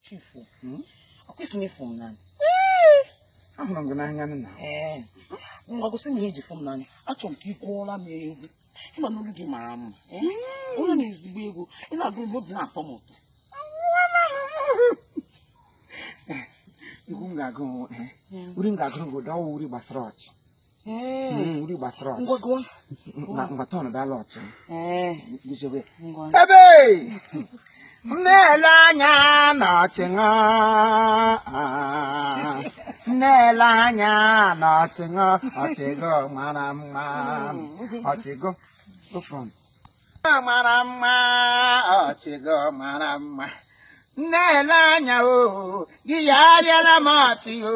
Chifu, hmm? ọkwa ị sị na ị fụ m n'anya. Ahụrụ m gị n'anya nna. Ee, ngwa gosi m ihe i ji fụ m n'anya. Achọrọ m ka ị gụọla m egwu. Ị ma na olu gị mara mma. Olu na ezigbo egwu. Ị na-agụ egwu obi na-atọ m ụtọ. Egwu m ga-agụ uri m ga-agụrụ gị ụda ọ wụ uri gbasara ọchị. Hmm, uri gbasara ọchị. Ngwa gụọ. Ngwa tọọ na dala ọchị. Ee. Guzobe. Ngwa. Ebe! na-ele anya n'ọchị ṅụ na-ele anya n'ọchị ṅụ ọchị gị mara mma ọchị gị go front. mara mma ọchị gị mara mma na-ele anya o gị ya arịala m ọchị o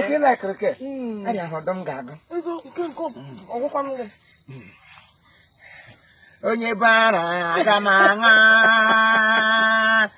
oke na akụrụke anya hụ ọdọ m ga-agụ onye bara aga m aṅa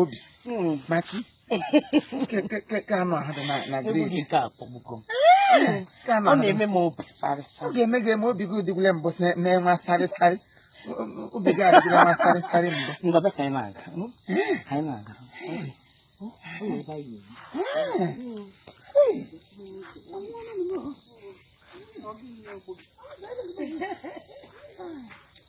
obi machi ka anụ ahụ dị na gredi ka akpọgbugo ọ na-eme m obi ọ ga-eme gị eme obi gị adịgwule mbụ na-enwe sarịsarị obi gị adịgwule nwa sarịsarị mbụ ngọbe ka anyị na-aga anyị na-aga Thank you.